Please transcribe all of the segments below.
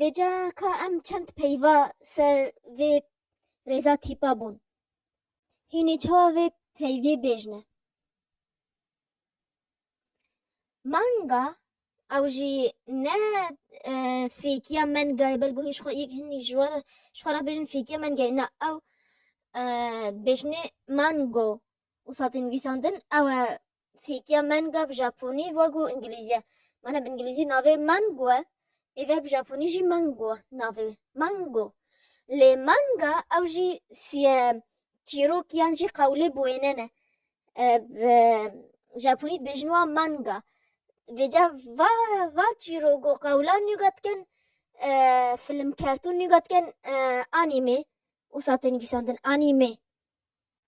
Vêca ka em çend peyva ser vê rêza tîpa bûn. Hînê çawa vê peyvê bêjne. Manga ew jî ne e, fêkiya mengayê belku hîn ji xwe yek hîn ji war ji xwe re bêjin fêkiya mengayê na ew e, bêjnê mango û satên nivîsandin ew e fêkiya manga bi japonî wegu îngilîzî mane bi îngilîzî navê mango e êve bi japonî jî mango navê mango lê manga ew jî suye çîrok yan jî qewlê bi wêne ne bi japonî dibêjin wa manga vêca va va çîrogo qewlan nûga dikin film kertûn nûga dikin anîmê wisa tê nivîsandin anîmê.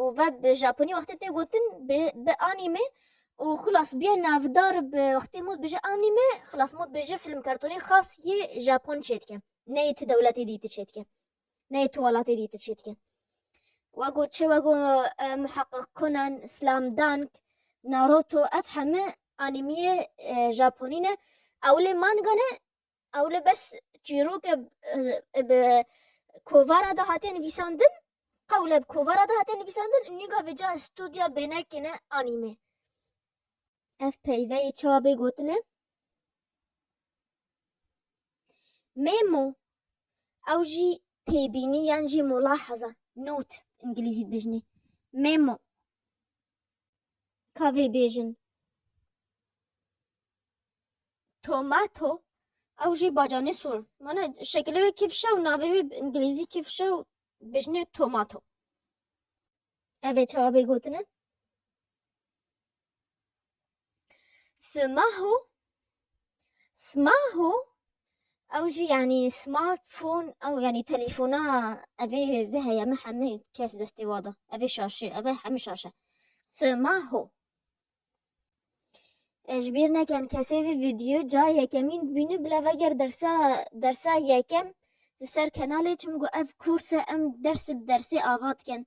û ve bi Japonî wextê tê gotin bi anîme û xilas bîye navdar bi wextê mû dibêje anîme xilas mû dibêje fîlm kartonî xas yê Japon çê dike neyê tu dewletê dî ti çê dike neyê tu welatê dî ti çê dike wego çi wego Muheqeq Conan Slam Dunk Naruto ev heme anîmîyê Japonî ne ewilê manga ne Ewle bes çîrok e bi kovara de hate nivîsandin, qewle bi kovara de hate nivîsandin û nîga vê cayê stûdya bênekê ne anîme. Ev peyveyê çawa bê gotine? Memo. Ew jî têbînî yan jî mulahaza, note, îngilîzî dibêjinê. Memo. ka vê bêjin. Tomato ew jî bacanê sor. Mana şekilê wê kifşe û navê wê bi îngilîzî kifşe û bêjinê tomato. Ev ê cewabê gotin e. Smahu Smahu ew jî yanî smartphone ew yanî telefona evê vê heye me hemî kes destê wa da. Evê şaşê eve hemî şaşe. Smahu Ji bîr nekin kesê vê vîdyo ca yekemîn dibîne bila veger dersa dersa yekem li ser kenalê çimku ev kûrse em ders bi dersê ava dikin.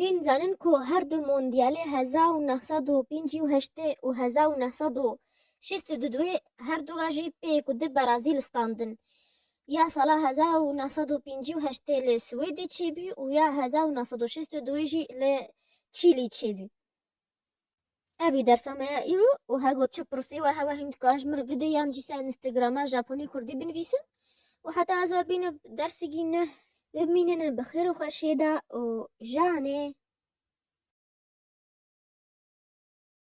Hîn zanin ku her du Mondyalê heza û neh sed û pêncî û heştê û heza û neh sed û şêst û du duê her du re jî pê ku di Berazîl standin. Ya sala heza û neh sed û pêncî û heştê li Swêdê çêbû û ya heza û neh sed û şêst û duê jî li Çîlî çêbû. Evî dersa me ya îro û hego çi pirsî we hewa hîn dike ji min videyan jî ser Instagrama Japonî Kurdî binivîsin û heta ez ê bînim dersigî neh bimînin bi xêr û xweşiyê de û janê